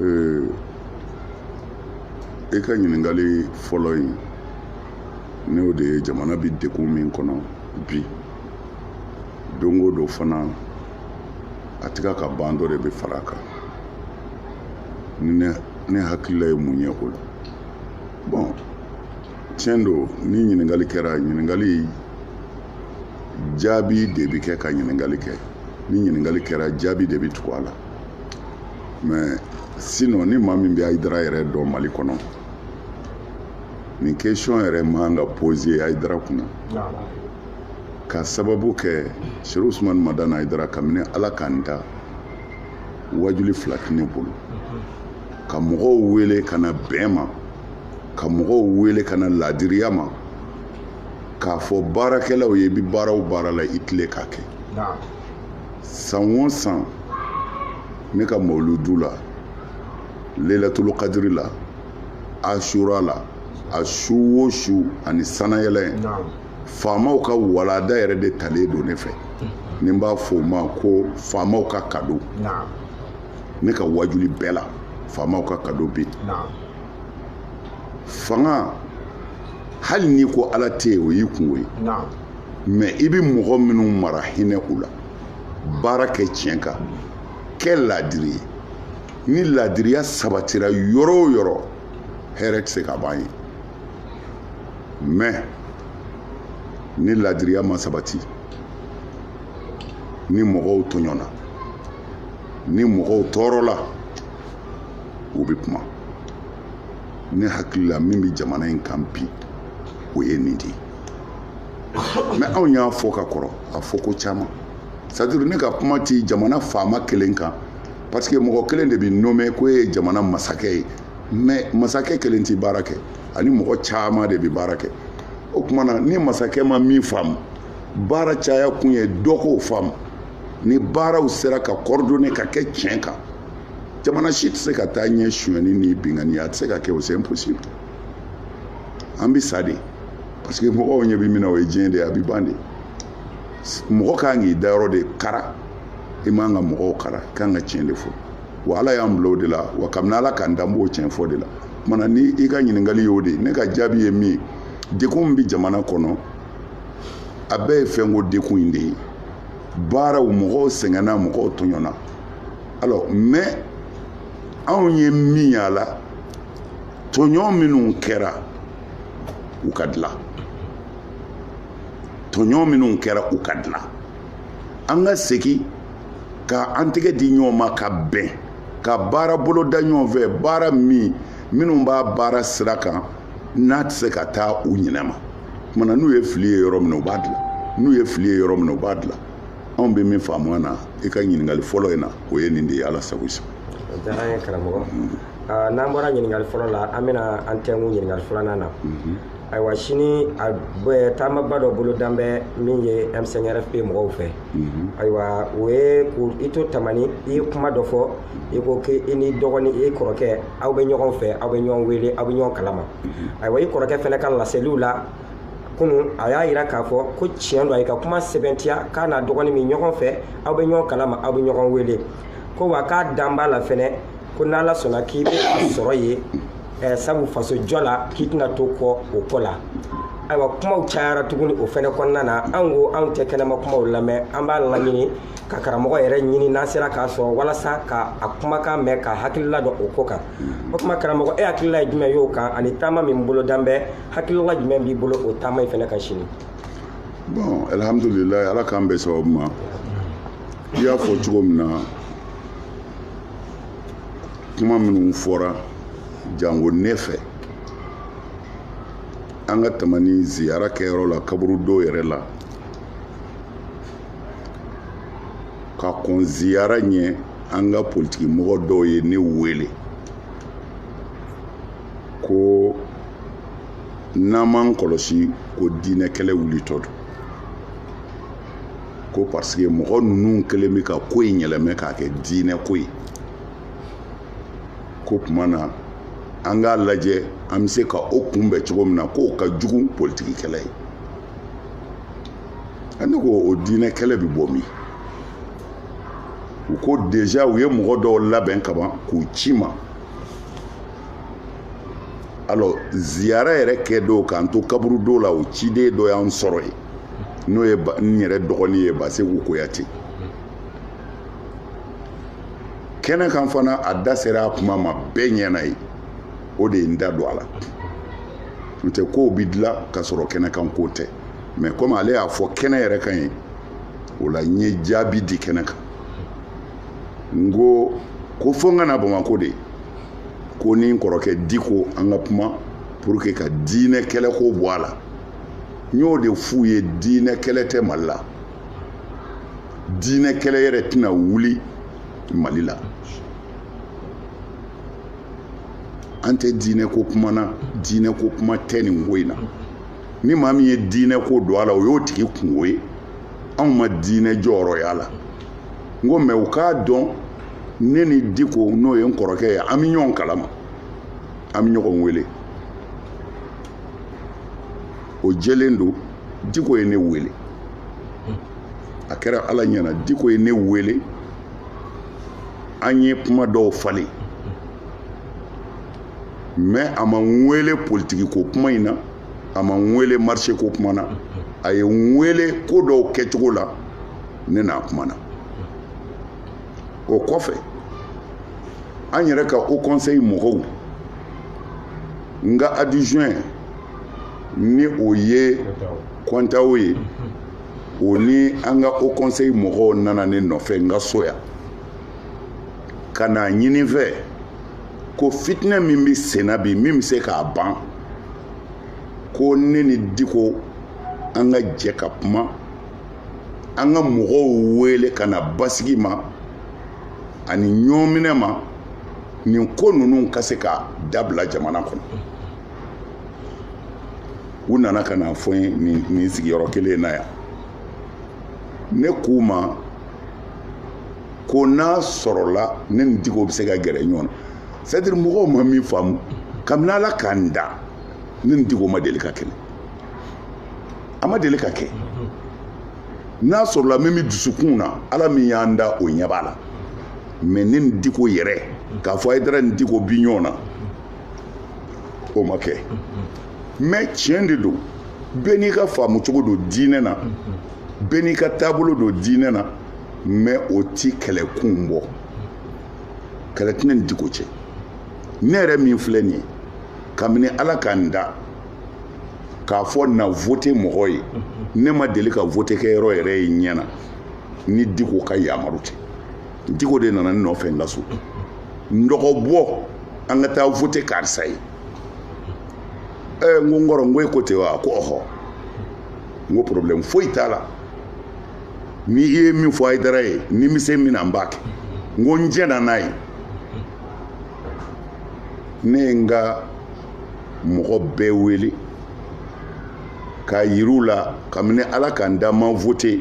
ee e ka ɲininkali fɔlɔ in n'o de ye jamana bɛ degun min kɔnɔ bi don o don fana a tɛ ka ban dɔ de bɛ fara a kan ne ne hakilila ye mun ye o la bɔn tiɲɛ don ni ɲininkali kɛra ɲininkali jaabi de bɛ kɛ ka ɲininkali kɛ ni ɲininkali kɛra jaabi de bɛ tugu a la mɛ sinɔn ni maa min bɛ ayidara yɛrɛ dɔn mali kɔnɔ nin kesiyɔn yɛrɛ man ka poze ayidara kunna ka sababu kɛ serifu usumani madani ayidara kabini ala ka n da wajuli fila tɛ ne bolo ka mɔgɔw wele ka na bɛn ma ka mɔgɔw wele ka na laadiriya ma k'a fɔ baarakɛlaw ye i bɛ baara o baara la i tilen k'a kɛ san o san ne ka mawuludu la lelatulu kadiri la asura la a su o su ani sanayɛlɛ in faamaw ka walanda yɛrɛ de talen don ne fɛ ni n b'a fɔ o ma ko faamaw ka kado ne ka wajuli bɛɛ la faamaw ka kado bɛ yen fanga hali n'i ko ala tɛ yen o y'i kunko ye mɛ i bɛ mɔgɔ minnu mara hinɛ u la baara kɛ tiɲɛ kan kɛ laadiri ye ni laadiriya sabatira yɔrɔ o yɔrɔ hɛrɛ tɛ se ka ban yen mɛ ni laadiriya ma sabati ni mɔgɔw tɔɲɔna ni mɔgɔw tɔɔrɔla u bɛ kuma ne hakilila min bɛ jamana in kan bi o ye nin de ye mɛ anw y'a fɔ ka kɔrɔ a fɔ ko caman c'est-à-dire ne ka kuma ti jamana faama kelen kan parce que mɔgɔ kelen de bɛ nome k'o ye jamana masakɛ ye mɛ masakɛ kelen ti baara kɛ ani mɔgɔ caman de bɛ baara kɛ o tuma na ni masakɛ ma min faamu baara caya kun ye dɔ k'o faamu ni baaraw sera ka kɔrɔdone ka kɛ tiɲɛ kan jamana si tɛ se ka taa ɲɛ sonyani ni binkanni a tɛ se ka kɛ o c'est impossible an bɛ sa de parce que mɔgɔw ɲɛ bɛ min na o ye diɲɛ de ye a bɛ ban de mɔgɔ kan k'i dayɔrɔ de kara i man ka mɔgɔw kara i kan ka tiɲɛ de fɔ wa ala y'an bila o de la wa kabini ala k'an da an b'o tiɲɛ fɔ de la kumana ni i ka ɲininkali y'o de ye ne ka jaabi ye min ye degun min bɛ jamana kɔnɔ a bɛɛ ye fɛnko degun in de ye baaraw mɔgɔw sɛgɛnna mɔgɔw tɔɲɔna alors mais anw ye min y'a la tɔɲɔ minnu kɛra u ka dilan tɔɲɔ minnu kɛra u ka dilan an ka segin ka an tɛgɛ di ɲɔgɔn ma ka bɛn ka baara bolo da ɲɔgɔn fɛ baara min minnu b'a baara sira kan n'a tɛ se ka taa u ɲinɛ ma kumana n'u ye fili ye yɔrɔ min na u b'a dilan n'u ye fili ye yɔrɔ min na u b'a dilan anw bɛ min faamuya na i ka ɲininkali fɔlɔ in na o ye nin de ye ala sago i sago o diyara an ye karamɔgɔ n'an bɔra ɲininkali fɔlɔ la an bɛna an tɛnkun ɲininkali filanan na ayiwa sini a taamaba dɔ bolodan bɛ min ye m5rfp mɔgɔw fɛ ayiwa o ye i to tamani i ye kuma dɔ fɔ i ko k'i ni dɔgɔnin i kɔrɔkɛ aw bɛ ɲɔgɔn fɛ aw bɛ ɲɔgɔn wele aw bɛ ɲɔgɔn kalama ayiwa i kɔrɔkɛ fɛnɛ ka laseliw la kunun a y'a jira k'a fɔ ko tiɲɛ don a y'i ka kuma sɛbɛntiya k'a n'a dɔgɔnin bɛ ɲɔgɔn fɛ aw bɛ ɲɔgɔn kalama aw bɛ ɲɔgɔn wele ko wa k'a dan b'a la fɛnɛ ko n'ala sɔnna k'i bɛ a sɔrɔ yen sabu faso jɔ la k'i tɛna to kɔ o ko la ayiwa kumaw cayara tuguni o fɛnɛ kɔnɔna na an ko anw tɛ kɛnɛma kumaw lamɛn an b'a laɲini ka karamɔgɔ yɛrɛ ɲini n'an sera k'a sɔrɔ walasa ka a kumakan mɛn k'a hakilila dɔn o ko kan o tuma karamɔgɔ e hakilila ye jumɛn y'o kan ani taama min bolodan bɛ hakilila jumɛn b'i bolo o taama in fɛnɛ kan sini bon alhamdulilayi ala k'an bɛn sababu ma i y'a fɔ cogo min na kuma minnu fɔra jango ne fɛ an ka tamani ziyara kɛyɔrɔ la kaburudo yɛrɛ la ka kɔn ziyara ɲɛ an ka politiki mɔgɔ dɔw ye ne wele ko n'an m'an kɔlɔsi ko diinɛ kɛlɛ wulitɔ don ko parce que mɔgɔ ninnu kɛlen bɛ ka ko in yɛlɛmɛ k'a kɛ diinɛ ko ye k'o tuma na an k'a lajɛ an bɛ se ka o kunbɛn cogo min na k'o ka jugu politiki kɛlɛ ye ne ko o diinɛ kɛlɛ bɛ bɔ min u ko déjà u ye mɔgɔ dɔw labɛn kaban k'u ci i ma alors ziyara yɛrɛ kɛ don k'an to kaburudo la o ciden dɔ y'an sɔrɔ yen n'o ye n yɛrɛ dɔgɔnin ye baseku kuyate kɛnɛ kan fana a da sera a kuma ma bɛɛ ɲɛna yen o de ye n da don a la n'o tɛ kow bi dilan ka sɔrɔ kɛnɛ kan ko tɛ mais comme ale y'a fɔ kɛnɛ yɛrɛ kan yen o la n ye jaabi di kɛnɛ kan n ko ko fo n ka na bamakɔ de ko ni n kɔrɔkɛ diko an ka kuma pour que ka diinɛ kɛlɛ ko bɔ a la n y'o de f'u ye diinɛ kɛlɛ tɛ mali la diinɛ kɛlɛ yɛrɛ tɛna wuli mali la an tɛ diinɛ ko kuma na diinɛ ko kuma tɛ nin ko in na ni maa min ye diinɛ ko don a la o y'o tigi kungo ye anw ma diinɛ jɔyɔrɔ y'a la n ko mais u k'a dɔn ne ni diko n'o ye n kɔrɔkɛ ye an bɛ ɲɔgɔn kalama an bɛ ɲɔgɔn wele o jɛlen don diko ye ne wele a kɛra ala ɲɛ na diko ye ne wele an ye kuma dɔw falen mais a ma n wele politikiko kuma in na a ma n wele marché ko kuma na a ye n wele ko dɔw kɛcogo la ne n'a kumana o kɔfɛ an yɛrɛ ka haut conseil mɔgɔw n ka adjoint ni o ye kɔntao ye o ni an ka haut conseil mɔgɔw nana ne nɔfɛ n ka so yan ka n'a ɲini n fɛ ko fitinɛ min bɛ senna bi min bɛ se k'a ban ko ne ni diko an ka jɛ ka kuma an ka mɔgɔw wele ka na basigi ma ani ɲɔminɛ ma nin ko ninnu ka se ka dabila jamana kɔnɔ u nana ka n'a fɔ n ye nin sigiyɔrɔ kelen na yan ne k'u ma ko n'a sɔrɔla ne ni diko bɛ se ka gɛrɛ ɲɔgɔn na c'est à dire mɔgɔw ma min faamu kabini ala ka n da ne ni diko ma deli ka kɛlɛ a ma deli ka kɛ n'a sɔrɔla min bɛ dusukun na ala min y'an da o ɲɛ b'a la mais ne ni diko yɛrɛ k'a fɔ hayidara ni diko bi ɲɔgɔn na o ma kɛ mais tiɲɛ de don bɛɛ n'i ka faamu cogo don diinɛ na bɛɛ n'i ka taabolo don diinɛ na mais o ti kɛlɛkun bɔ kɛlɛ tɛ ne ni diko cɛ ne yɛrɛ min filɛ nin ye kabini ala ka n da k'a fɔ na vote mɔgɔ ye ne ma deli ka vote kɛ yɔrɔ yɛrɛ ye ɲɛ na ni diko ka yamaru tɛ diko de nana ne nɔfɛ n ka so n dɔgɔ bɔ an ka taa vote karisa ye ɛɛ n ko n kɔrɔ n ko e ko ten wa ko ɔhɔ n ko problème foyi t'a la ni i ye min fɔ hayidara ye ni n bɛ se min na n b'a kɛ n ko n jɛna n'a ye ne ye n ka mɔgɔ bɛɛ wele k'a yir'u la kabini ala ka n da n ma vote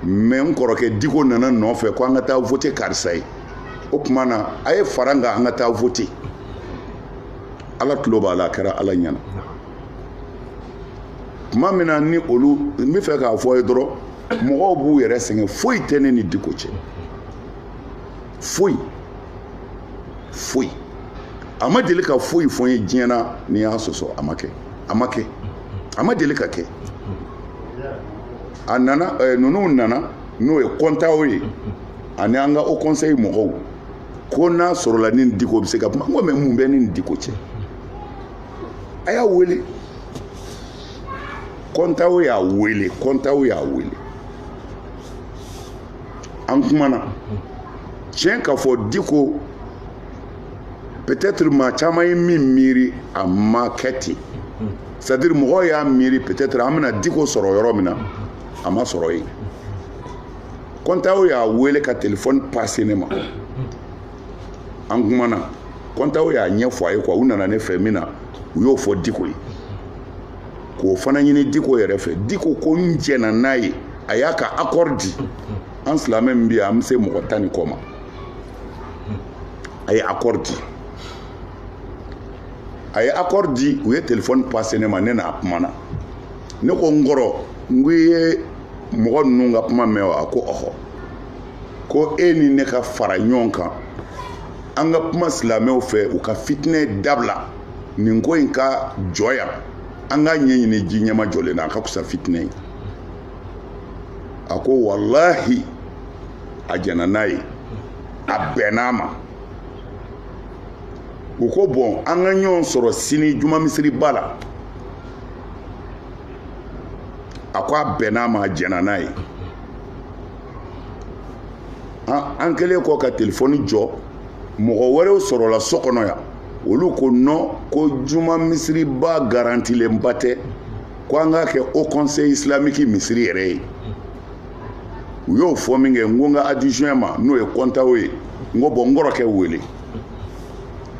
mais n kɔrɔkɛ diko nana n nɔfɛ ko an ka taa vote karisa ye o tuma na a ye fara n kan an ka taa vote ala tulo b'a la a kɛra ala ɲɛna tuma min na ni olu n b'a fɛ k'a fɔ i ye dɔrɔn mɔgɔw b'u yɛrɛ sɛgɛn foyi tɛ ne ni diko cɛ foyi foyi a ma deli ka foyi fɔ n ye diɲɛ na n'i y'a sɔsɔ a ma kɛ a ma kɛ a ma deli ka kɛ a nana ɛɛ eh, ninnu nana n'o ye kɔntaw ye ani an ka haut conseil mɔgɔw ko n'a sɔrɔla n ni diko bɛ se ka kuma n ko mais mun bɛ ne ni diko cɛ. a y'a wele kɔntaw y'a wele kɔntaw y'a wele an kumana tiɲɛ ka fɔ diko peut-être maa caman ye min miiri a ma kɛ ten c'est à dire mɔgɔw y'a miiri peut-être an bɛna diko sɔrɔ yɔrɔ min na a ma sɔrɔ yen kɔntaw y'a wele ka telefɔni pase ne ma an kumana kɔntaw y'a ɲɛfɔ a ye quoi u nana ne fɛ min na u y'o fɔ diko ye k'o fana ɲini diko yɛrɛ fɛ diko ko n jɛna n'a ye a y'a ka accord di an silamɛ min bɛ yan an bɛ se mɔgɔ tan ni kɔ ma a ye accord di a ye accord di u ye telefɔni pase ne ma ne n'a kumana ne ko n kɔrɔ n ko i ye mɔgɔ ninnu ka kuma mɛn wa a ko ɔhɔ ko e ni ne ka fara ɲɔgɔn kan an ka kuma silamɛw fɛ u ka fitinɛ dabila nin ko in ka jɔ yan an k'a ɲɛɲini ji ɲɛmajɔlen na a ka kusa fitinɛ ye a ko walahi a jɛna n'a ye a bɛnn'a ma u ko bon an ka ɲɔgɔn sɔrɔ sini juma misiriba la a ko a bɛnn'a ma a jɛna n'a ye an kɛlen kɔ ka telefɔni jɔ mɔgɔ wɛrɛw sɔrɔla so kɔnɔ yan olu ko non ko juma misiriba garantilenba tɛ ko an k'a kɛ haut conseil islamique misiri yɛrɛ ye u y'o fɔ minkɛ n ko n ka adjoint ma n'o ye kɔntaw ye n ko bon n kɔrɔkɛ wele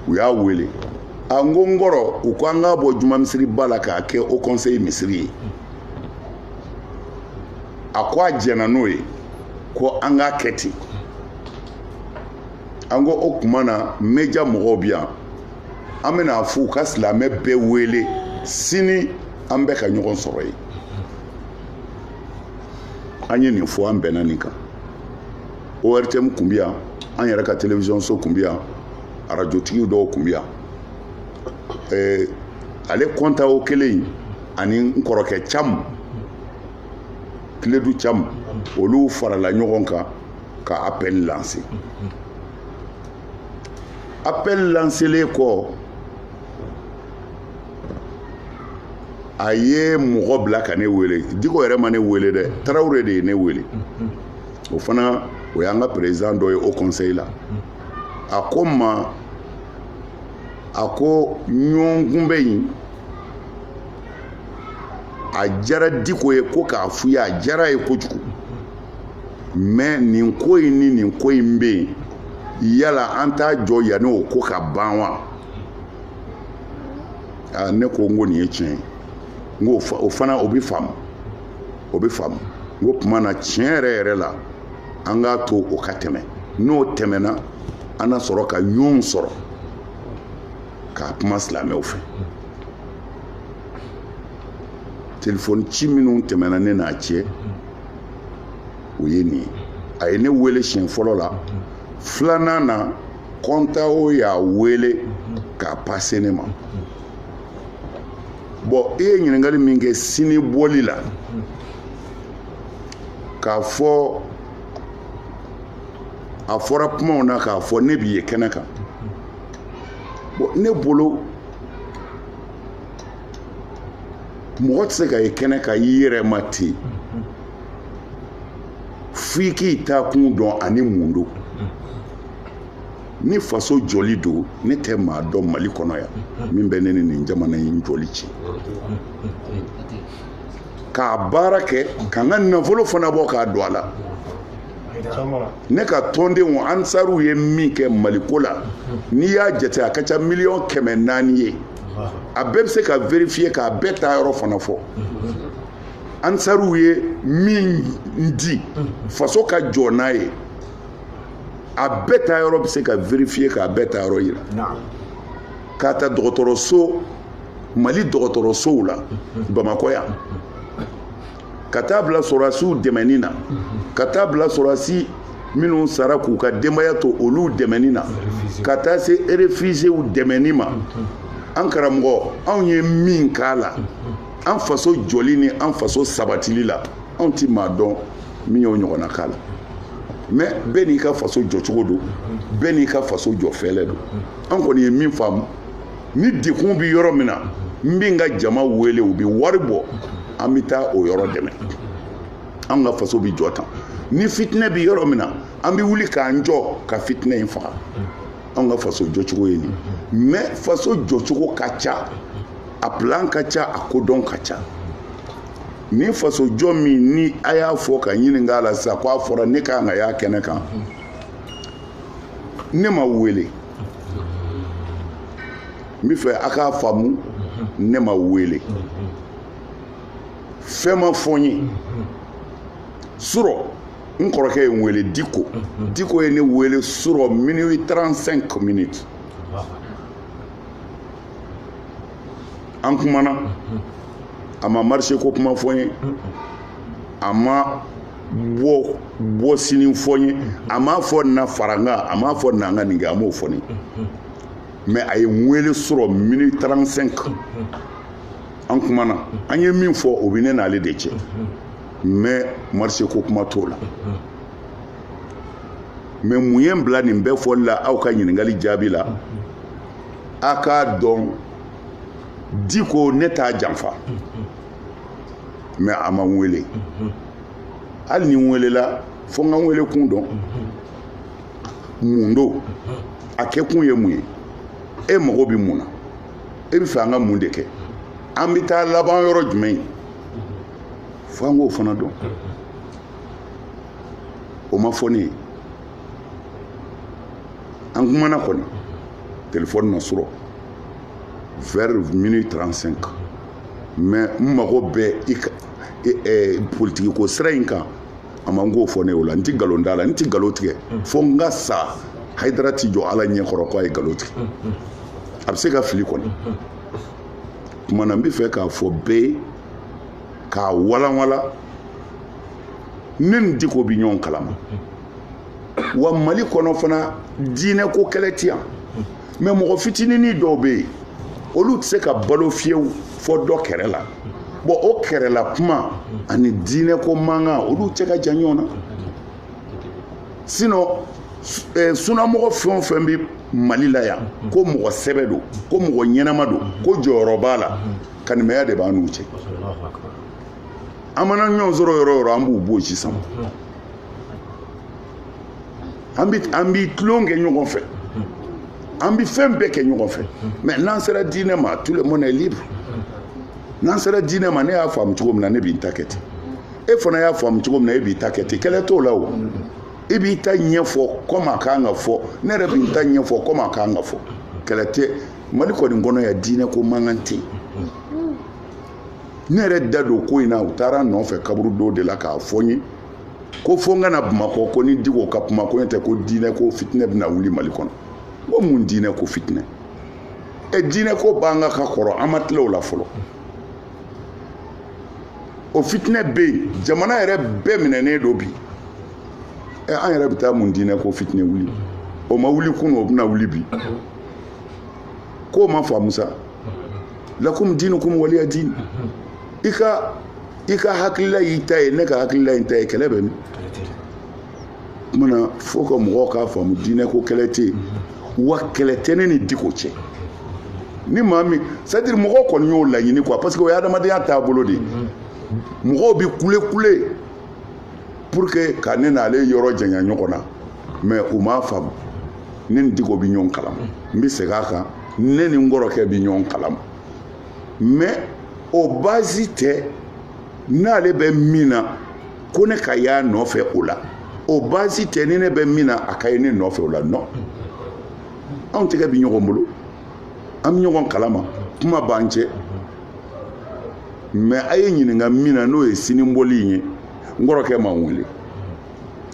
u y'a wele a n ko n kɔrɔ u ko an k'a bɔ juma misiriba la k'a kɛ haut conseil misiri ye a ko a jɛnna n'o ye ko an k'a kɛ ten an ko o tuma na meja mɔgɔw bi yan an bɛna a f'u ka silamɛ bɛɛ wele sini an bɛ ka ɲɔgɔn sɔrɔ yen an ye nin fɔ an bɛnna nin kan ortm kun bi yan an yɛrɛ ka television so kun bi yan arajotigiw dɔw kun bi yan eh, ale kɔntawo kelen ani n kɔrɔkɛ cam kiledu cam olu farala ɲɔgɔn kan ka appel lanse appel lanselen kɔ a ye mɔgɔ bila ka ne wele diko yɛrɛ ma ne wele dɛ tarawele de ye ne wele o fana o y'an ka perezidan dɔ ye o kɔnseyi la a ko n ma a ko ɲɔgɔn kunbɛn in a diyara diko ye ko k'a f'u ye a diyara a ye kojugu mɛ nin ko in ni nin ko in bɛ yen yala an t'a jɔ yanni o ko ka ban wa aa ne ko n ko nin ye tiɲɛ ye n ko o fana o bɛ faamu o bɛ faamu n k'o tuma na tiɲɛ yɛrɛ yɛrɛ la an k'a to o ka tɛmɛ n'o tɛmɛna an na sɔrɔ ka ɲɔgɔn sɔrɔ k'a kuma silamɛw fɛ telefɔni ci minnu tɛmɛna ne n'a cɛ o ye nin ye a ye ne wele siɲɛ fɔlɔ la filanan na kɔntawo y'a wele k'a pase ne ma bɔn e ye ɲininkali min kɛ sini bɔli la k'a fɔ a fɔra kumaw na k'a fɔ ne bi ye kɛnɛ kan bɔn ne bolo mɔgɔ tɛ se ka ye kɛnɛ kan i yɛrɛ ma ten f'i k'i taakun dɔn ani mun don ni faso jɔli don ne tɛ maa dɔn mali kɔnɔ yan min bɛ ne ni nin jamana in jɔli cɛ k'a baara kɛ ka n ka nafolo fana bɔ k'a don a la ne ka tɔndenw ansaruw ye min kɛ maliko la n'i y'a jate a ka ca miliyɔn kɛmɛ naani ye a bɛɛ bɛ se ka verifiye k'a bɛɛ taayɔrɔ fana fɔ ansaruw ye min di faso ka jɔ n'a ye a bɛɛ taayɔrɔ bɛ se ka verifiye k'a bɛɛ taayɔrɔ yira k'a ta dɔgɔtɔrɔso mali dɔgɔtɔrɔsow la bamakɔ yan ka taa bila sɔrɔdasiw dɛmɛni na ka taa bila sɔrɔdasi minnu sara k'u ka denbaya to olu dɛmɛni na ka taa se erefizew dɛmɛni ma an karamɔgɔ anw ye min k'a la an faso jɔli ni an faso sabatili la anw ti maa dɔn min y'o ɲɔgɔnna k'a la mɛ bɛɛ n'i ka faso jɔcogo don bɛɛ n'i ka faso jɔfɛlɛ don an kɔni ye min faamu ni degun bɛ yɔrɔ min na n bɛ n ka jama wele u bɛ wari bɔ an bɛ taa o yɔrɔ dɛmɛ an ka faso bɛ jɔ tan ni fitinɛ bɛ yɔrɔ min na an bɛ wuli k'an jɔ ka fitinɛ in faga an ka faso jɔcogo ye nin mɛ faso jɔcogo ka ca a plan ka ca a kodɔn ka ca ni faso jɔ min ni a y'a fɔ ka ɲininka a la sisan ko a fɔra ne ka kan ka y'a kɛnɛ kan ne ma wele n bɛ fɛ a k'a faamu ne ma wele fɛn ma fɔ n ye surɔ n kɔrɔkɛ ye n wele diko diko ye ne wele surɔ minuit 35 minutes an kumana a ma marché ko kuma fɔ n ye a ma bɔ bɔ sini fɔ n ye a m'a fɔ na fara n kan a m'a fɔ na n ka nin kɛ a m'o fɔ ne mɛ a ye n wele surɔ minuit 35 an kumana an ye min fɔ o bɛ ne n'ale de cɛ mɛ marché ko kuma t'o la mɛ mun ye n bila nin bɛɛ fɔli la aw ka ɲininkali jaabi la a k'a dɔn diko ne t'a janfa mɛ a ma n wele mhm. hali ni n welela fo n ka n wele kun dɔn mhm. mun don mhm. a kɛ kun ye mun ye e mago bɛ mun na e bɛ fɛ an ka mun de kɛ an bɛ taa laban yɔrɔ jumɛn fo an k'o fana dɔn o ma fɔ ne ye an kumana kɔni telefɔni na surɔ vers minuit 35 mɛ n mago bɛ i ka politiki ko sira in kan a ma n k'o fɔ ne o la n tɛ nkalon d'a la n tɛ nkalon tigɛ fo n ka sa hayidara tɛ jɔ ala ɲɛ kɔrɔ k'a ye nkalon tigɛ a bɛ se ka fili kɔni kuma na n bɛ fɛ k'a fɔ bɛɛ ye k'a walanwalan ne ni diko bɛ ɲɔgɔn kalama wa mali kɔnɔ fana diinɛ ko kɛlɛ ti yan mais mɔgɔ fitinini dɔw bɛ yen olu tɛ se ka balo fiyewu fo dɔ kɛrɛ la bon o kɛrɛla kuma ani diinɛ ko mankan olu cɛ ka jan ɲɔgɔn na sinon eh, sunamɔgɔ fɛn o fɛn bɛ mali la yan ko mɔgɔ sɛbɛ don ko mɔgɔ ɲɛnama don ko jɔyɔrɔ b'a la kanimɛya de b'a n'u cɛ an mana ɲɔgɔn sɔrɔ yɔrɔ o yɔrɔ an b'u b'o sisan an bɛ an bɛ tulon kɛ ɲɔgɔn fɛ an bɛ fɛn bɛɛ kɛ ɲɔgɔn fɛ mais n'an sera diinɛ ma tout le monde est libre n'an sera diinɛ ma ne y'a faamu cogo min na ne b'i ta kɛ ten e fana y'a faamu cogo min na e b'i ta kɛ ten kɛlɛ t'o la o i b'i ta ɲɛfɔ kɔmi a kan ka fɔ ne yɛrɛ b'i ta ɲɛfɔ kɔmi a kan ka fɔ kɛlɛ tɛ mali kɔni kɔnɔ yan diinɛ ko mankan tɛ yen ne yɛrɛ da don ko in na u taara n nɔfɛ kaburudo de la k'a fɔ n ye ko fo n ka na bamakɔ ko n ni diko ka kuma ko n'o tɛ ko diinɛ ko fitinɛ bɛna wuli mali kɔnɔ ko mun diinɛ ko fitinɛ ɛ diinɛ ko b'an kan ka kɔrɔ an ma tila o la fɔlɔ o fitinɛ bɛ yen jamana yɛrɛ bɛɛ minɛnen don bi ɛ an yɛrɛ bɛ taa mun diinɛ ko fitinɛ wuli o ma wuli kunun o bɛna wuli bi k'u m'a faamu sa lakum diinukum waliya diin i ka i ka hakilila y'i ta ye ne ka hakilila y'i ta ye kɛlɛ bɛ min mana faut que mɔgɔw k'a faamu diinɛ ko kɛlɛ tɛ yen wa kɛlɛ tɛ ne ni diko cɛ ni maa min c'est à dire mɔgɔw kɔni y'o laɲini quoi parce que o ye adamadenya taabolo de ye mɔgɔw bɛ kule kule pour que ka ne n'ale yɔrɔ janya ɲɔgɔn na mais u m'a faamu ne ni diko bɛ ɲɔgɔn kalama n bɛ segin a kan ne ni n kɔrɔkɛ bɛ ɲɔgɔn kalama mais o baasi tɛ n'ale bɛ min na ko ne ka y'a nɔfɛ o la o baasi tɛ ni ne bɛ min na a ka ye ne nɔfɛ o la non anw tɛgɛ bɛ ɲɔgɔn bolo an bɛ ɲɔgɔn kalama kuma b'an cɛ mais a ye n ɲininka min na n'o ye sini bɔli in ye n kɔrɔkɛ ma n wele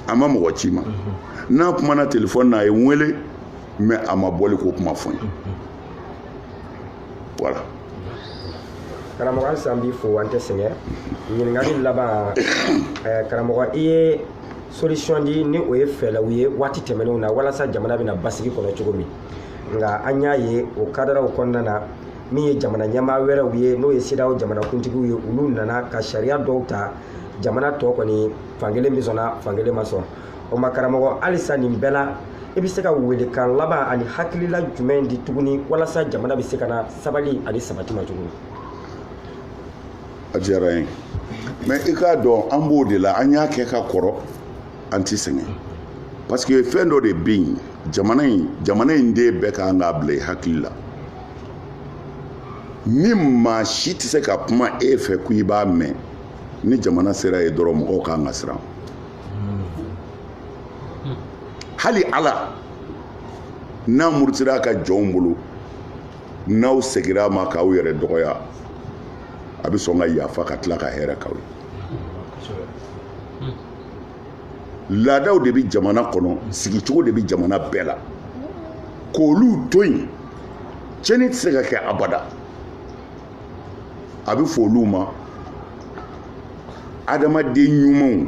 a ma mɔgɔ ci n ma n n'a kumana telefɔni na a ye n wele mais a ma bɔli ko kuma fɔ n ye voilà karamɔgɔ halisa n b'i fo an tɛ sɛgɛn ɲininkali laban eh, karamɔgɔ i ye solution di ni o ye fɛɛlɛw ye waati tɛmɛnenw na walasa jamana bɛna basigi kɔnɔ cogo min nka an y'a ye o kadaraw kɔnɔna na min ye jamana ɲɛmaa wɛrɛw ye n'o ye CEDEAO jamanakuntigiw ye olu nana ka sariya dɔw ta jamana tɔ kɔni fankelen bɛ sɔnna fankelen ma sɔn o ma karamɔgɔ halisa nin bɛɛ la i bɛ se ka welekan laban ani hakilila jumɛn di tuguni walasa jamana bɛ se ka na sabali ani sabati ma tuguni a diyara n ye mais i k'a dɔn an b'o de la an y'a kɛ ka kɔrɔ an tɛ sɛgɛn parce que fɛn dɔ de bɛ yen jamana in den bɛɛ kan k'a bila i hakili la ni maa si tɛ se ka kuma e fɛ ko i b'a mɛn ni jamana sera yen dɔrɔn mɔgɔw kan ka siran hali ala n'a murutira a ka jɔnw bolo n'aw segira a ma k'aw yɛrɛ dɔgɔya a bɛ sɔn ka yafa ka tila ka hɛrɛ k'aw ye laadaw de bɛ jamana kɔnɔ sigicogo de bɛ jamana bɛɛ la k'olu to yen tiɲɛni tɛ se ka kɛ abada a bɛ fɔ olu ma adamaden ɲumanw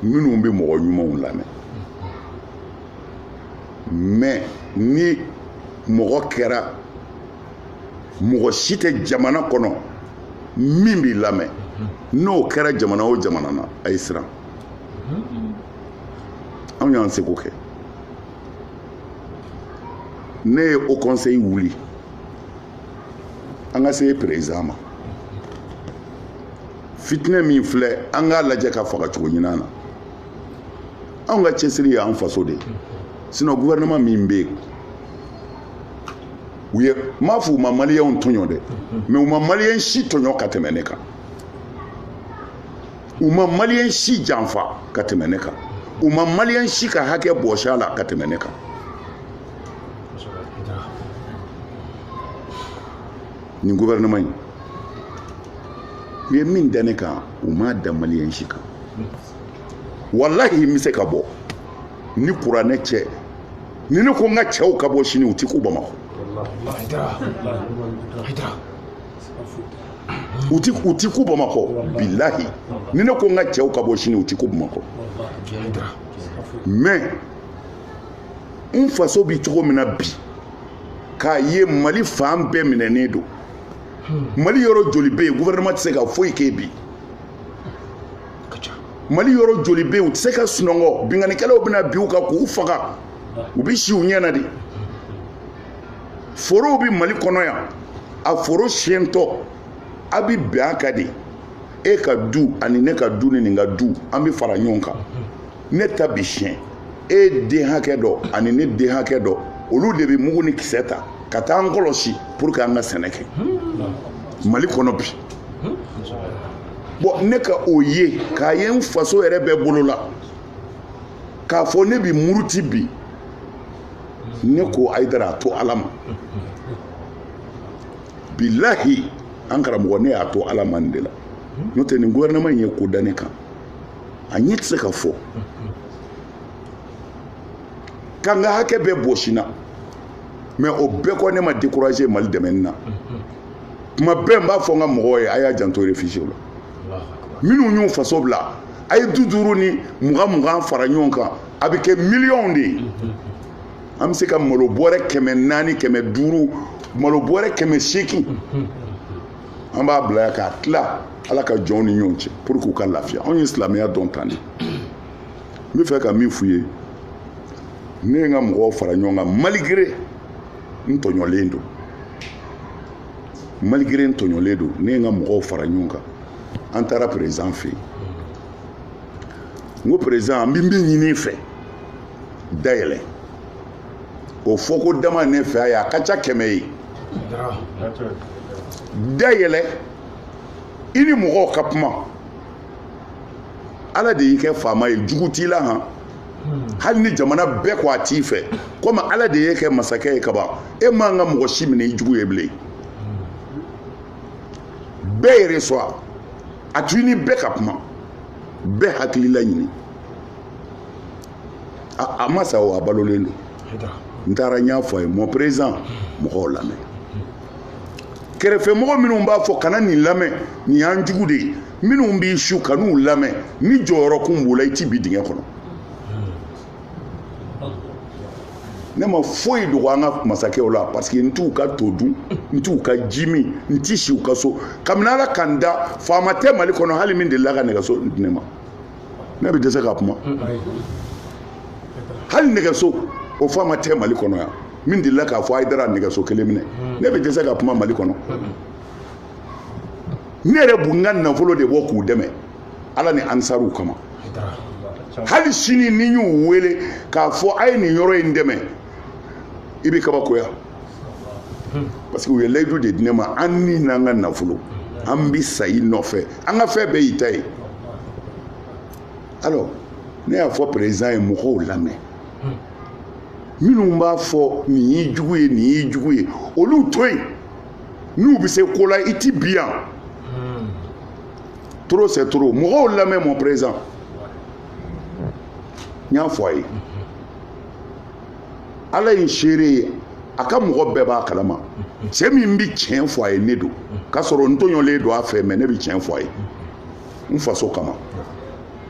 minnu bɛ mɔgɔ ɲumanw lamɛn mais ni mɔgɔ kɛra mɔgɔ si tɛ jamana kɔnɔ min bɛ lamɛn n'o kɛra jamana o jamana na a ye siran anw y'an seko kɛ ne ye haut conseil wuli an ka se président ma fitinɛ min filɛ an k'a lajɛ k'a faga cogo ɲuman na anw ka cɛsiri y'an faso de ye sinon gouvernement min bɛ yen u ye n m'a fɔ u ma maliyɛnw tɔɲɔ dɛ mais u ma maliyɛn si tɔɲɔ ka tɛmɛ ne kan u ma maliyɛn si janfa ka tɛmɛ ne kan u ma maliyɛn si ka hakɛ bɔsi a la ka tɛmɛ ne kan nin gouvernement in u ye min da ne kan u m'a da maliyɛn si kan walahi n bɛ se ka bɔ ni kuranɛ cɛ ni ne ko n ka cɛw ka bɔ sini u ti kun bamakɔ u ti u ti kun bamakɔ bilahi ni ne ko n ka cɛw ka bɔ sini u ti kun bamakɔ mais n faso bi cogo min na bi k'a ye mali fan bɛɛ minɛnen don mali yɔrɔ joli bɛ yen gouvernement tɛ se ka foyi kɛ bi mali yɔrɔ joli bɛ yen u tɛ se ka sunɔgɔ binkannikɛlaw bɛna bin u kan k'u faga u bɛ si u ɲɛ na de forow bɛ mali kɔnɔ yan a foro siyɛntɔ a bɛ bɛn a kan de e ka du ani ne ka du ni nin ka du an bɛ fara ɲɔgɔn kan ne ta bi siyɛn e den hakɛ dɔ ani ne den hakɛ dɔ olu de bɛ mugu ni kisɛ ta ka taa an kɔlɔsi pour que an ka sɛnɛ kɛ mali kɔnɔ bi bon ne ka o ye k'a ye n faso yɛrɛ bɛɛ bolo la k'a fɔ ne bi muruti bi ne ko ayidara a to ala ma bilahi an karamɔgɔ ne y'a to ala ma nin de la n'o tɛ nin gouvernement in ye ko da ne kan a ɲɛ tɛ se ka fɔ ka n ka hakɛ bɛɛ bɔsi n na mais o bɛɛ kɔ ne ma décourager mali dɛmɛni na kuma bɛɛ n b'a fɔ n ka mɔgɔw ye a y'a janto réfugiéw la minnu y'u faso bila a ye duuru duuru ni mugan mugan fara ɲɔgɔn kan a bɛ kɛ miliyɔnw de ye an bɛ se ka malo bɔrɛ kɛmɛ naani kɛmɛ duuru malo bɔrɛ kɛmɛ seegin an b'a bila yan k'a tila ala ka jɔnw ni ɲɔgɔn cɛ pour que u ka lafiya anw ye silamɛya dɔn tan de n bɛ fɛ ka min f'u ye ne ye n ka mɔgɔw fara ɲɔgɔn kan malgré n tɔɲɔlen don malgré n tɔɲɔlen don ne ye n ka mɔgɔw fara ɲɔgɔn kan an taara président fɛ yen n ko président an bɛ min ɲini i fɛ dayɛlɛ o fɔko dama ne fɛ a ye a ka ca kɛmɛ ye dayɛlɛ i ni mɔgɔw ka kuma ala de y'i kɛ faama ye jugu t'i la han hali ni jamana bɛɛ ko a t'i fɛ komi ala de y'e kɛ masakɛ ye kaban e man ka mɔgɔ si minɛ i jugu ye bilen bɛɛ yɛrɛ sɔn a to i ni bɛɛ ka kuma bɛɛ hakilila ɲini a ma sa o a balolen don n taara n y'a fɔ a ye mon président mɔgɔw lamɛn kɛrɛfɛmɔgɔ minnu b'a fɔ kana nin lamɛn nin y'an jugu de ye minnu b'i su kan'u lamɛn n'i jɔyɔrɔ kun b'u la i ti bin dingɛ kɔnɔ ne ma foyi dogo an ka masakɛw la parce que n t'u ka to dun n t'u ka ji min n ti si u ka so kabini ala ka n da faama tɛ mali kɔnɔ hali min delila ka nɛgɛso di ne ma ne bɛ dɛsɛ ka kuma hali nɛgɛso o faama tɛ mali kɔnɔ yan min delila k'a fɔ ayidara nɛgɛso kelen minɛ ne bɛ dɛsɛ ka kuma mali kɔnɔ ne yɛrɛ bɛ n ka nafolo de bɔ k'u dɛmɛ ala ni ansaruw kama hali sini n'i y'u wele k'a fɔ a ye nin yɔrɔ in dɛmɛ i bɛ kabakoya parce que u ye layidu de di ne ma an ni n'an ka nafolo an bɛ sa i nɔfɛ an ka fɛn bɛɛ y'i ta ye alors ne y'a fɔ président ye mɔgɔw lamɛn minnu b'a fɔ nin y'i jugu ye nin y'i jugu ye olu to yen n'u bɛ se ko la i ti bi yan trop c'est trop mɔgɔw lamɛn mon président n y'a fɔ a ye ala ye n seere ye a ka mɔgɔ bɛɛ b'a kalama cɛ min bɛ tiɲɛ fɔ a ye ne don k'a sɔrɔ n tɔɲɔlen don a fɛ mais ne bɛ tiɲɛ fɔ a ye n faso kama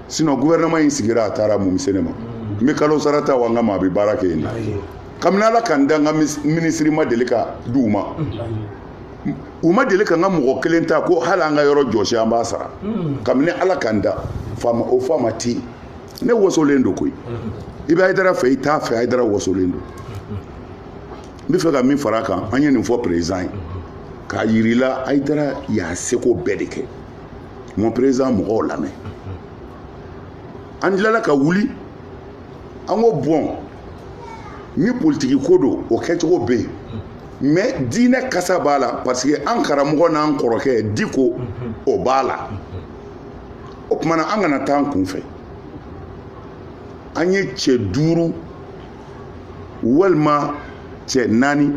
sinon gouvernement in sigira a taara mun bɛ se ne ma n bɛ kalo sara ta wa n ka maa bɛ baara kɛ yen de kabini ala ka n da n ka minisiri ma deli ka di u ma u ma deli ka n ka mɔgɔ kelen ta ko hali an ka yɔrɔ jɔsi an b'a sara hmm. kabini ala ka n da o faama tɛ yen ne wasolen don koyi i bɛ hayidara fɛ i t'a fɛ hayidara wasolen don n bɛ fɛ ka min fara a kan an ye nin fɔ président ye k'a yirila hayidara y'a seko bɛɛ de kɛ mon président mɔgɔw lamɛn an tilala ka wuli an ko bon ni politiki ko don o kɛcogo bɛ yen mais diinɛ kasa b'a la parce que an karamɔgɔ n'an kɔrɔkɛ diko o b'a la o tuma na an kana taa an kun fɛ an ye cɛ duuru walima cɛ naani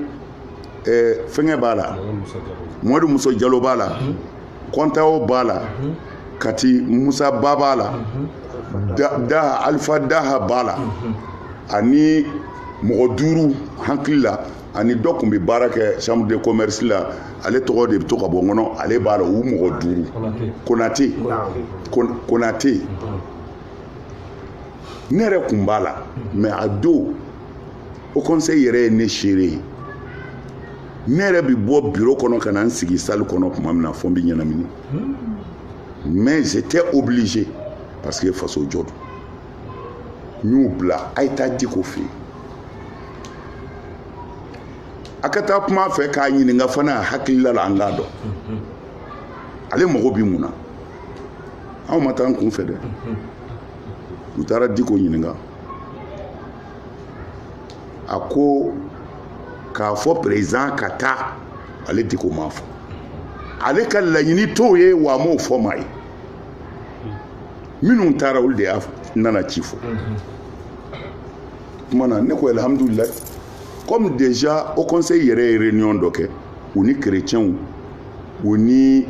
eh, fɛngɛ b'a la mamadu musa jalo b'a la kɔntawo b'a la kati musa ba b'a la daha alifa daha b'a la ani mɔgɔ duuru hakili la ani dɔ tun bɛ baara kɛ chambre de commerce la ale tɔgɔ de bɛ to ka bɔ n kɔnɔ ale b'a la u mɔgɔ duuru ah konate ne yɛrɛ tun b'a la mais a don haut conseil yɛrɛ ye ne seere ye ne yɛrɛ bɛ bɔ bureau kɔnɔ ka na n sigi salle kɔnɔ tuma min na fo n bɛ ɲɛnamini mais j'étais obligé parce que faso jɔ don n y'u bila a ye taa diko fɛ yen a ka taa kuma a fɛ k'a ɲininka fana a hakilila la an k'a dɔn ale mago bɛ mun na anw ma taa an kun fɛ dɛ u taara diko ɲininka a ko k'a fɔ président ka taa ale diko m'a fɔ ale ka laɲini t'o ye wa a m'o fɔ maa ye minnu taara olu de y'a nana ci fɔ kuma na ne ko alhamdulilayi comme déjà haut conseil yɛrɛ ye réunion dɔ kɛ u ni chrétienw u ni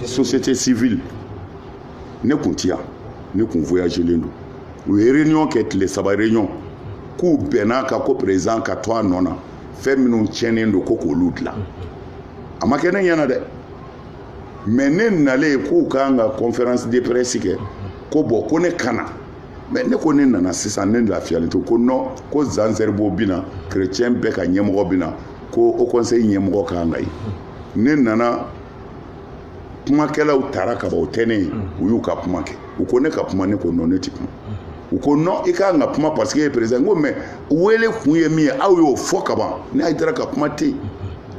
société civile ne kun ti yan ne kun voyagelen don u ye réunion kɛ tile saba réunion k'u bɛnna a kan ko président ka to a nɔ na fɛn minnu tiɲɛnen don ko k'olu dilan a ma kɛ ne ɲɛna dɛ mais ne nalen k'u ka kan ka conférence de presse kɛ ko bon ko ne ka na mais ne ko ne nana sisan ne lafiyalen to ko non ko jean zerbo bina chrétien bɛɛ ka ɲɛmɔgɔ bina ko haut conseil ɲɛmɔgɔ ka kan ka ye ne nana kumakɛlaw tara ka ban o tɛ ne ye u y'u ka kuma kɛ u ko ne ka kuma ne ko non ne tɛ kuma u ko non i ka kan ka kuma parce que ye président ko mais wele kun ye min ye aw y'o fɔ ka ban ne ayidara ka kuma tɛ yen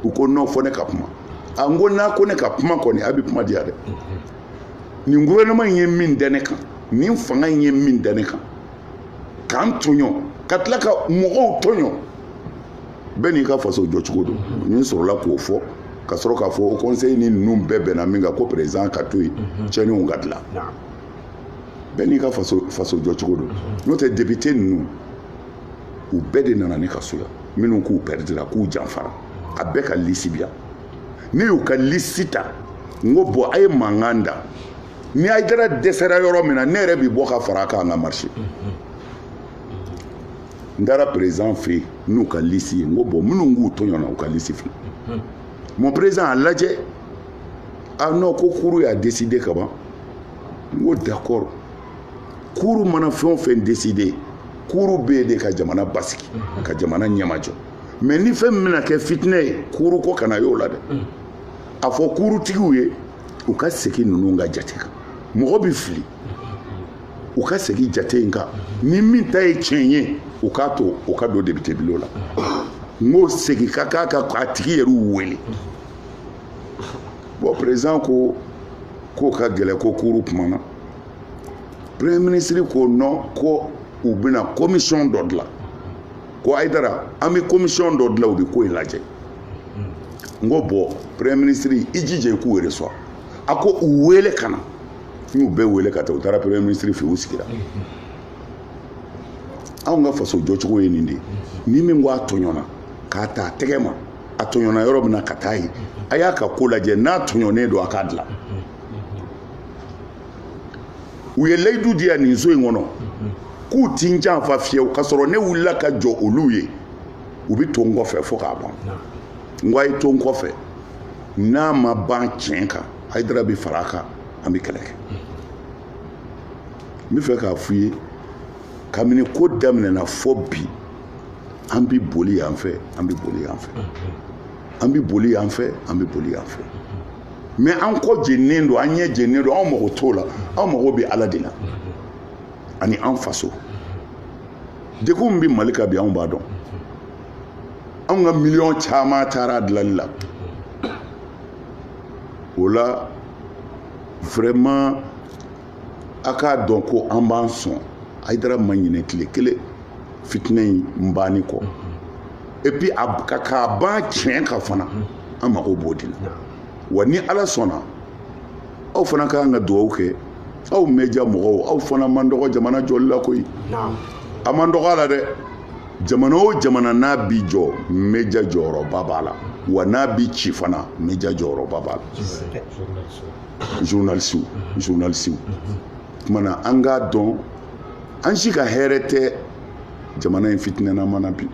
u ko non fɔ ne ka kuma a n ko n'a ko ne ka kuma kɔni a bɛ kuma diya dɛ nin gouvernement in ye min da ne kan nin fanga in ye min da ne kan k'an tɔɲɔ ka tila ka mɔgɔw tɔɲɔ bɛɛ n'i ka faso jɔcogo don ne sɔrɔla k'o fɔ ka sɔrɔ k'a fɔ haut conseil ni ninnu bɛɛ bɛnna min kan ko président ka to yen tiɲɛniw ka dilan bɛɛ n'i ka faso jɔcogo don n'o tɛ député ninnu u bɛɛ de nana ne ka so yan minnu k'u pɛridira k'u janfara a bɛɛ ka liste bi yan ne y'u ka liste ta n ko bon a ye mankan da ni ayidara dɛsɛra yɔrɔ min na ne yɛrɛ bi bɔ ka fara a kan an ka marcher n taara président fɛ yen n'u ka liste ye n ko bon minnu k'u tɔɲɔna u ka liste filɛ mon président a lajɛ ah non ko cour y'a décidé ka ban n ko d'accord cour mana fɛn o fɛn décidé cour bɛ yen de ka jamana basigi ka jamana ɲɛmajɔ mais ni fɛn min bɛna kɛ fitinɛ ye cour ko kana y'o la dɛ a fɔ courtigiw ye u ka segin ninnu ka jate kan mɔgɔ bɛ fili u ka segin jate in kan ni min ta ye tiɲɛ ye u k'a to u ka don député bulon la n ko segin ka k'a ka a tigi yɛrɛw wele bon président ko k'o ka gɛlɛn ko cour kumana premier ministre ko non ko u bɛna commission dɔ dilan ko ayidara an bɛ commission dɔ dilan u bɛ ko in lajɛ n ko bon premier ministre i jija i k'u reçoit a ko u wele ka na n y'u bɛɛ wele ka taa u taara premier ministre fɛ u sigira anw ka faso jɔcogo ye nin de ye ni min ko a tɔɲɔna k'a ta a tɛgɛ ma a tɔɲɔna yɔrɔ min na ka taa yen a y'a ka ko lajɛ n'a tɔɲɔnen don a k'a dilan u ye layidu di yan nin so in kɔnɔ k'u ti n janfa fiyewu k'a sɔrɔ ne wulila ka jɔ olu ye u bɛ to n kɔfɛ fo k'a ban n ko a ye to n kɔfɛ n'a ma ban tiɲɛ kan hayidara bɛ fara a kan an bɛ kɛlɛ kɛ n bɛ fɛ k'a f'u ye kabini ko daminɛna fo bi an bɛ boli yan fɛ an bɛ boli yan fɛ an bɛ boli yan fɛ an bɛ boli yan fɛ. mais an kɔ jennen don an ɲɛ jennen don anw mago t'o la anw mago bɛ ala de la ani an faso degun bɛ mali kan bi anw b'a dɔn anw ka miliyɔn caman taara a dilali la o la vraiment a k'a dɔn ko an b'an sɔn hayidara ma ɲinɛ tile kelen fitinɛ in banni kɔ et puis k'a ban tiɲɛ kan fana an mago b'o de la wa ni ala sɔnna aw fana ka kan ka dugawu kɛ aw média mɔgɔw aw fana man dɔgɔ jamana jɔli la koyi a man dɔgɔ a la dɛ jamana o jamana n'a bi jɔ média jɔyɔrɔba b'a la wa n'a bi ci fana média jɔyɔrɔba b'a la journaliste kumana an k'a dɔn an si ka hɛrɛ tɛ jamana in fitinɛnama na bi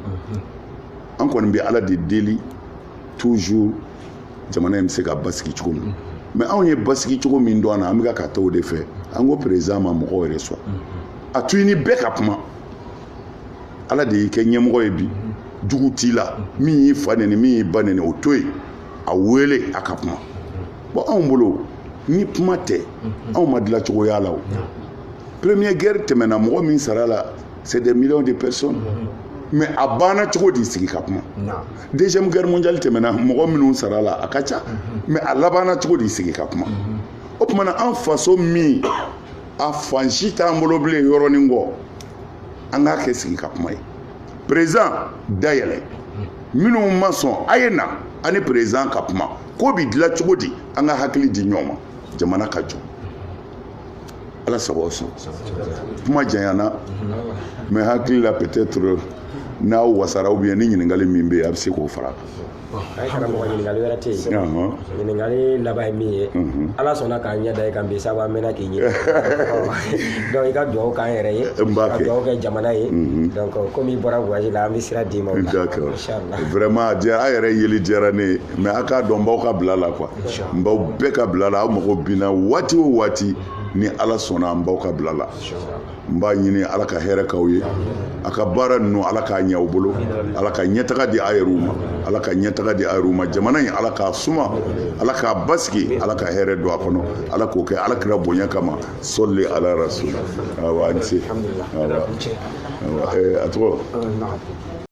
an kɔni bɛ ala de deli toujours jamana in bɛ se ka basigi cogo min mais anw ye basigi cogo min dɔn a na an bɛ ka taa o de fɛ an ko président ma mɔgɔw yɛrɛ sɔn a to i ni bɛɛ ka kuma ala de y'i kɛ ɲɛmɔgɔ ye bi jugu t'i la min y'i fa nɛni min y'i ba nɛni o to yen a wele a ka kuma bon anw bolo ni kuma tɛ mhm. anw ma dila cogoya la o premier guerre tɛmɛna mɔgɔ min sara a la c'est des millions de personnes mhm. mais a banna cogo di sigi ka kuma deuxième guerre mondiale tɛmɛna mɔgɔ minnu sara a la a ka ca mhm. mais a labanna cogo di sigi ka kuma o tuma na an faso min a fan si t'an bolo bilen yɔrɔnin kɔ an k'a kɛ sigi ka kuma ye président dayɛlɛ minnu ma sɔn a ye na ani président ka kuma ko bi dilan cogo di an ka hakili di ɲɔgɔn ma jamana ka jɔ ala sago sɔn kuma janyana mais hakili la peut-être n'aw wasara ou bien ni ɲininkali min bɛ yen a bɛ se k'o fara a kan. ɲininkali laban ye min ye ala sɔnna k'an ɲɛ da i kan bi sabu an mɛnna k'i ɲini donc i ka dugawu k'an yɛrɛ ye ka dugawu kɛ jamana ye donc komi i bɔra voyage la an bɛ sira d'i ma o la vraiment a yɛrɛ yeli diyara ne ye mais a k'a dɔn n b'aw ka bila la quoi n b'aw bɛɛ ka bila la aw mago binna waati o waati ni ala sɔnna an b'aw ka bila la n b'a ɲini ala ka hɛrɛ k'aw ye a ka baara ninnu ala k'a ɲɛ aw bolo ala ka ɲɛtaga di a yɛrɛw ma ala ka ɲɛtaga di a yɛrɛw ma jamana in ala k'a suma ala k'a basigi ala ka hɛrɛ don a kɔnɔ ala k'o kɛ ala kira bonya kama sɔli ala rasul awa a ni se awa awa a tɔgɔ